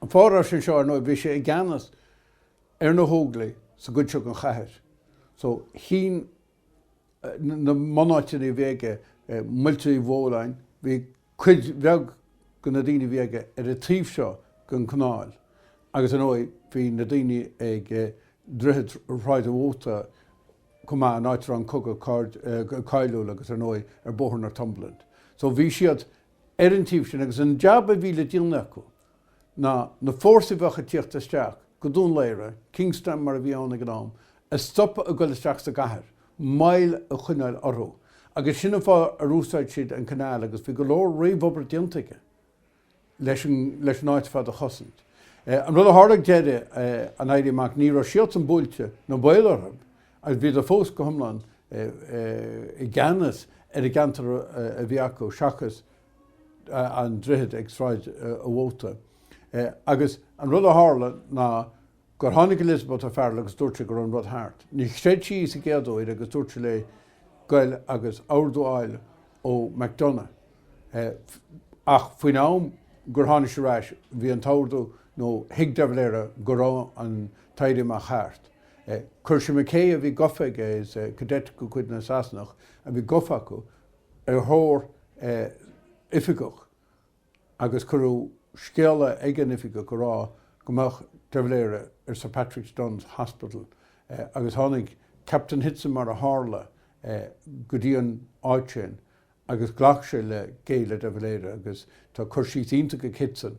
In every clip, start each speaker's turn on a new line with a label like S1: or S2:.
S1: An fáth a raibh sé anseo, ar ndóigh, bhí sé i gceannas ar na hÓglaigh sa gcuid seo den chathair, so ceann de na bunáiteanna a bhí aige, Muilte Uí Bheoláin, bhí cuid bheag de na daoine a bhí aige ar an taobh seo den canáil agus, ar ndóigh, bhí na daoine ag Droichead Shráid an Mhóta chomh maith, an áit a raibh an cogadh cáiliúil agus, ar ndóigh, ar Bhóthar Northumberland. So bhí siad ar an taobh sin agus an jab a bhí le déanamh acu ná na fórsaí a bheadh ag tíocht isteach go Dún Laoghaire, Kingstown mar a bhí ann ag an am, a stopadh ag dul isteach sa gcathair, moill a choinneáil orthu. Agus sin an fáth ar úsáid siad an canáil agus bhí go leor réamhobair déanta aige leis an áit ar fad a chosaint. An rud a tharla ag deireadh an Éirí Amach, ní raibh siadsan buailte ná baol orthu Agus bhíodar fós go hiomlán i gceannas ar an gceantar a bhí acu seachas an droichead ag Sráid a' Mhóta. Agus an rud a tharla ná gur tháinig Elizabeth O'Farrell agus dúirt sí go raibh an rud thart. Níor chreid sé í sa gcéad uair agus dúirt sé léi goil agus ordú a fháil ó McDonagh. Ach faoin am gur tháinig sí ar ais bhí an t-ordú, nó thuig de Valera go raibh an tÉirí Amach thart. Chuir sé McKay, a bhí gofa aige, is cadet de chuid na Sasanach a bhí gofa acu, ar thóir oifigeach agus cuireadh scéala ag an oifigeach a rá go mbeadh De Valera ag Sir Patrick Dun's Hospital agus tháinig Captain Hitzen mar a tharla go dtí an áit sin agus ghlac sé le géilleadh De Valera agus tá cur síos iontach ag Hitzen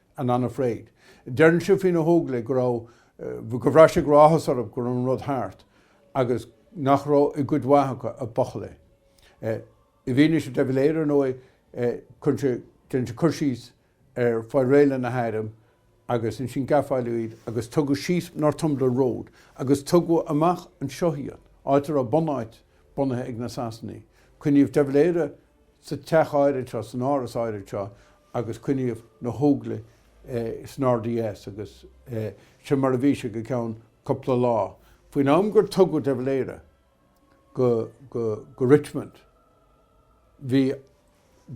S1: and unafraid. Deireann sé faoi na hÓglaigh go raibh, go bhraith sé go raibh áthas orthu go raibh an rud thart agus nach raibh i gcuid mhaith acu ach buachaillí. I bhfianaise de Valera, ar ndóigh, cuireann sé, déanann sé cur síos ar fáil réidh le na hairm agus ansin gafáladh iad agus tugadh síos Northumberland Road agus tugadh amach anseo iad, áit a raibh bunáit bunaithe ag na Sasanaigh. Coinníodh de Valera sa teach áirid seo, san áras áirid seo, agus coinníodh na hÓglaigh san RDS agus sin mar a bhí sé go ceann cúpla lá. Faoin am gur tugadh De Valera go Richmond bhí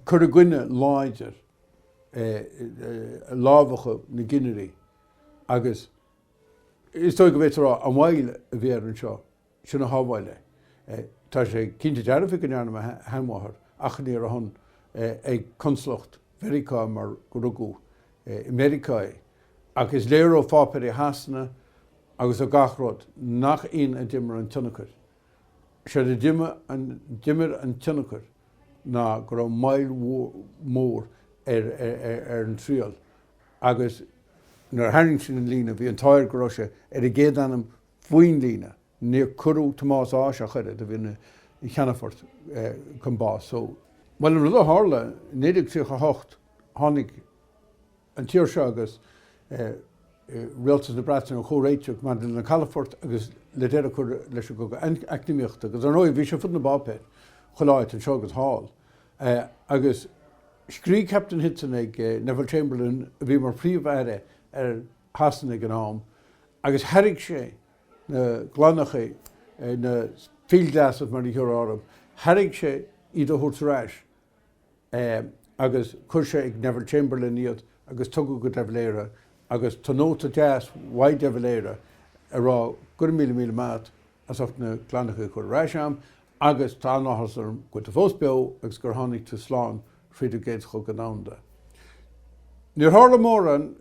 S1: cur i gcoinne láidir, lámhachadh na gcinnirí agus is dóigh go bhféadfá a rá an mhoill a bhí air anseo. sin a shábháil é. Tá sé cinnte dearfa go ndearna mo sheanmháthair achainí ar a shon ag Consalacht Mheiriceá mar gur rugadh i Meiriceá é. Ach is léir ó pháipéirí Shasana agus ó gach rud nach in a d'imir an tionchar. Séard a d'imir an tionchar ná go raibh moill mhór ar an triail agus nuair a tharraing sin an líne bhí an t-ádh air go raibh sé ar an gcéad ainm faoin líne. Níor cuireadh Tomás Ághas ach oiread, a bhí ina cheannfort, chun báis. So, bhuel, an rud a tharla, i 1938 tháinig an tír seo agus Rialtas na Breataine ar chomhréiteach maidir leis na calafoirt agus le deireadh a chur leis an gcogadh eacnamaíochta, agus ar ndóigh bhí sé ar fud na bpáipéar chuile áit anseo agus thall, agus scrígh Captain Hitzen ag Neville Chamberlain, a bhí mar Phríomh-Aire ar Shasana ag an am, agus thairg sé na gloineacha, na field glasses mar a thabharfá orthu, thairg sé iad a thabhairt ar ais agus chuir sé ag Neville Chamberlain iad agus tugadh go de Valera agus tá nóta deas uaidh de Valera ag rá go raibh míle míle maith agat as ucht na gloineacha a chur ar ais a'm agus tá an-áthas orm go bhfuil tú fós beo agus gur tháinig tú slán fríd an gCéad Chogadh Domhanda. Níor tharla mórán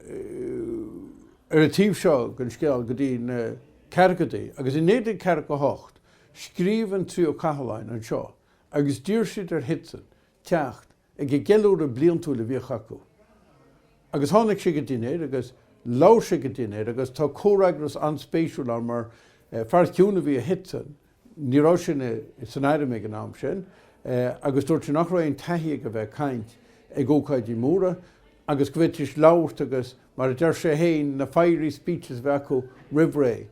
S1: ar an taobh seo den scéal go dtí na ceathrachaidí, agus i 1948 scríobh an Tríú Cathlán anseo agus d'iarr siad ar Hitzen teacht ag an gceiliúradh bliantúil a bhíodh acu. Agus tháinig sé ag an dinnéar agus labhair sé ag an dinnéar agus tá comhfhreagras an-spéisiúil ann mar fear ciúin a bhí i Hitzen Ní raibh sé san airm ag an am sin agus dúirt sé nach raibh aon taithí aige bheith ag caint ag ócáidí móra agus go bhféadfaidís labhairt agus, mar a deir sé féin, na 'fiery speeches' a bheith acu roimh ré.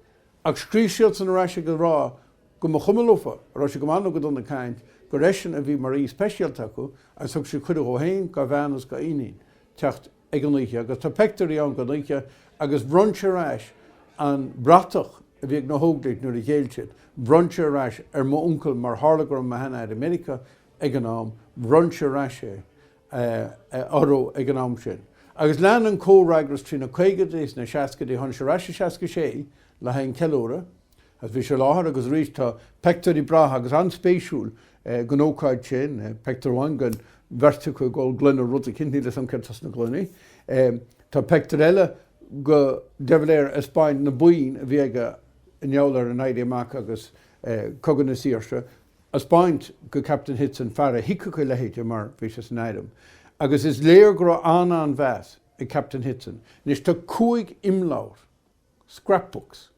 S1: Ach scríobh siadsan ar ais ag a rá go mba chuma leofa an raibh sé go maith nó go dona ag caint, gur eisean a bhí mar aoi speisialta acu agus thug siad cuireadh dhó féin, dhá bhean agus dhá iníon teacht. ag an oíche, agus tá peictiúirí ann den oíche, agus bhronn sé ar ais an bhratach a bhí ag na hÓglaigh nuair a ghéill siad, bhronn sé ar ais ar m'uncail, mar tharla go raibh mo shean-athair i Meiriceá ag an am, bhronn sé ar ais é orthu ag an am sin. Agus lean an comhfhreagras trí na caogaidí is na seascaidí, tháinig sé ar ais i seasca sé le haghaidh an ceiliúradh, Agus bhí sé i láthair agus arís tá peictiúirí breátha agus an-spéisiúil den ócáid sin, peictiúr amháin den bheirt acu ag ól gloine rud eicínt, níl 'fhios a'm céard atá sna gloiní. Tá peictiúr eile go, de Valera ag 'speáint na boinn a bhí aige i ngeall ar an Éirí Amach agus Cogadh na Saoirse, a' 'speáint go Captain Hitzen, fear a thuigfeadh a leithéide mar bhí sé san airm. Agus is léir go raibh an-an-mheas ag Captain Hitzen. Anois tá cúig imleabhar scrapbooks,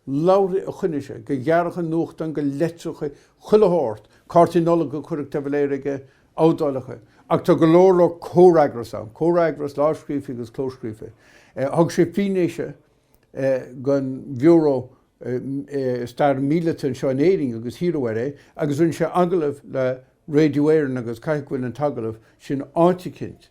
S1: leabharthaí a choinnigh sé, go ghearrthacha nuachtáin, go leitreachaí, chuile shórt, cártaí Nollag a chuireadh de Valera aige, éadálacha, ach tá go leor leor comhfhreagras ann, comhfhreagras lámhscríofa agus clóscríofa. Thug sé fianaise don Bhiúró Stair Mhíleata anseo in Éirinn agus hiarradh air é, agus rinne sé agallamh le Radio Éireann agus caithfidh go bhfuil an t-agallamh sin áit eicínt,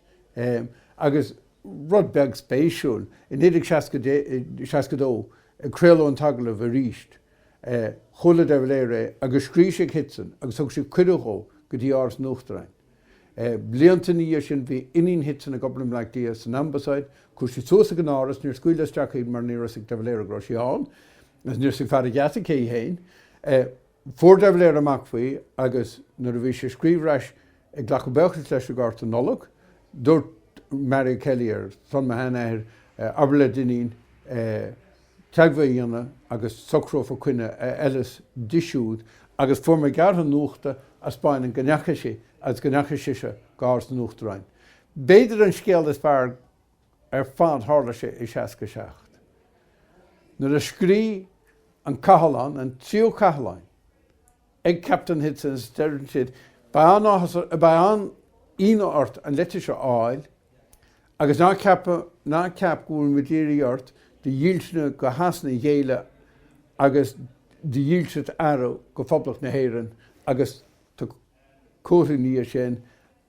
S1: agus. rud beag spéisiúil, i 1962, a craoladh an t-agallamh arís, chuala de Valera é agus scrígh sé ag Hitzen agus thug sé cuireadh dhó go dtí Áras an Uachtaráin. Blianta ina dhiaidh sin, bhí iníon Hitzen ag obair i mBleá Cliath, san Ambasáid, chuaigh sí suas ag an Áras, níor scaoileadh isteach í mar ní raibh a fhios ag de Valera go raibh sí ann, agus níor thuig fear an gheata cé hí féin. Fuair de Valera amach faoi agus nuair a bhí sé ag scríobh ar ais ag glacadh buíochas leis an gcárta Nollag, dúirt Marie O'Kelly, ar son mo shean-athair, Abair le d'iníon teagmháil a dhéanamh agus socrófar coinne a fheileas di siúd agus fuair mé gearrtha nuachta a spáineann go ndeachaigh sí agus go ndeachaigh sise go Áras an Uachtaráin. B'fhéidir an scéal is fearr ar fad tharla sé i seasca seacht. Nuair a scrí An Cathlán, an Tríú Cathlán, ag Captain Hitzen is deireann siad, Beidh an-áthas, beidh an-ionadh ort an leitir seo a fháil agus ná ceap, ná ceap go bhfuil muid ag iarraidh ort do dhílse go Shasana a ghéilleadh agus do dhílseacht a athrú go Phoblacht na hÉireann agus tá comhartha ina dhiaidh sin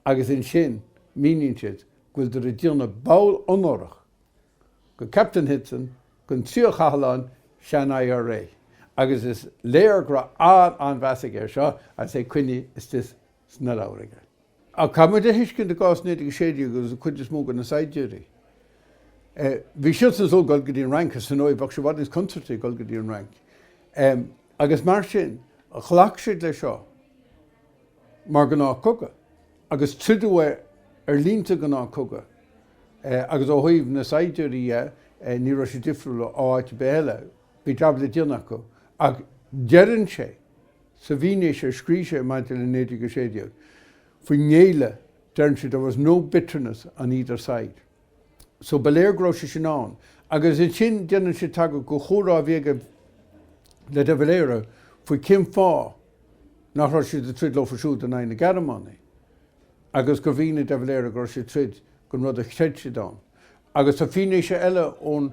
S1: agus ansin míníonn siad go bhfuileadar ag déanamh ball onórach go Captain Hitzen gon tríú cathlán sean IRA agus is léir go raibh an-an-mheas aige ar seo agus é coinnithe istigh sna leabhair aige. Ach caithfidh muid a thuiscint i gcás 1916 agus an chuid is mó de na saighdiúirí, bhí siadsan ag súil dul go dtí an Fhrainc is ar ndóigh bheadh sé i bhfad níos contúirtí ag dul go dtí an Fhrainc agus mar sin ghlac siad leis seo. mar ghnáth cogadh, agus troideadh é ar línte gnáth cogadh, agus ó thaobh na saighdiúirí dhe, ní raibh sé difriúil ó áit ar bith eile, bhí jab le déanamh acu, ach deireann sé sa bhfianaise a scrígh sé maidir le 1916, faoin ngéilleadh, deireann sé, 'there was no bitterness on either side'. so ba léir go raibh sé sin ann. Agus ansin déanann sé tagairt don chomhrá a bhí aige le de Valera faoi cén fáth nach raibh siad ag troid leofa siúd in aghaidh na Gearmánaigh agus gur mhínigh de Valera go raibh siad ag troid don rud a chreid siad ann. Agus tá fianaise eile ón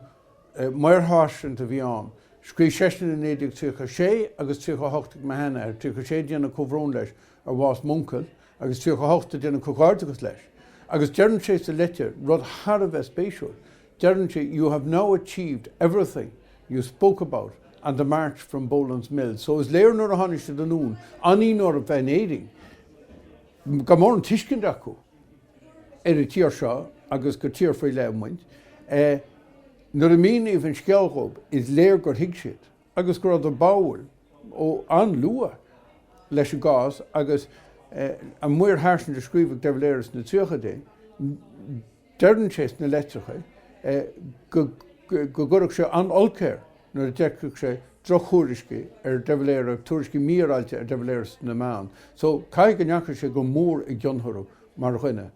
S1: maorsháirsint a bhí ann, scríobh seisean i 1936 agus 38 ag mo shean-athair, 36 ag déanamh comhbhrón leis ar bhás m'uncail, agus 38 ag déanamh comhghairdeachas leis agus deireann sé sa leitir rud thar a bheith spéisiúil, deireann sé you have now achieved everything you spoke about on the march from Boland's Mills so is léir nuair a tháinig siad anonn anonn orthu bheith in Éirinn gan mórán tuiscint acu ar an tír seo agus gur tír faoi leith muid nuair a míníodh an scéal dhóibh is léir gur thuig siad. agus go raibh siad báúil ó an-luath leis an gcás agus an maorsháirsint a scríobhadh de Valera sna tríochaidí, deireann sé sna leitreacha go gcuirfeadh sé an-olc air nuair a d'fheicfeadh sé drochthuairiscí ar de Valera, tuairiscí mífhéaráilte ar de Valera sna meáin. So, caithfidh go ndeachaigh sé go mór i gcion orthu mar dhuine.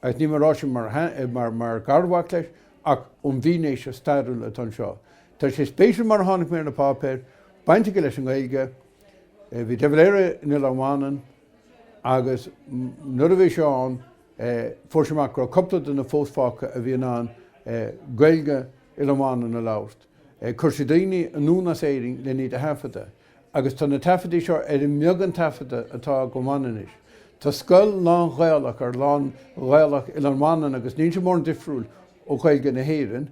S1: Agus níl mé ag rá sin mar gharmhac leis, ach ón bhfianaise stairiúil atá anseo, tá sé spéisiúil mar tháinig mé ar na páipéir baint aige leis an nGaeilge. Bhí De Valera in Oileán Mhanann agus nuair a bhí sé ann fuair sé amach go raibh cúpla duine fós fágtha a bhí in ann Gaeilge Oileán Mhanann a labhairt, chuir sé daoine anonn as Éirinn len iad a thaifeadadh. Agus tá na taifeadtaí seo ar an mbeagán taifeadadh atá den Mhanainnis. Tá scoil lán-Ghaelach ar lán-Ghaelach Oileán Mhanann agus níl sé mórán difriúil ó Ghaeilge na hÉireann.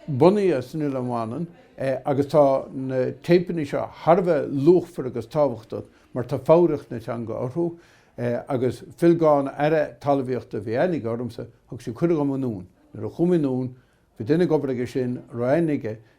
S1: bunaithe san Oileán Mhanann agus tá na téipeanna seo thar a bheith luachmhar agus tábhachtach mar tá foghraíocht na teanga orthu. Agus Phil Gawne, Aire Talmhaíochta a bhí aithne aige ormsa, thug sé cuireadh dhom anonn. Nuair a chuaigh mé anonn, bhí duine ag obair aigesean a raibh aithne aige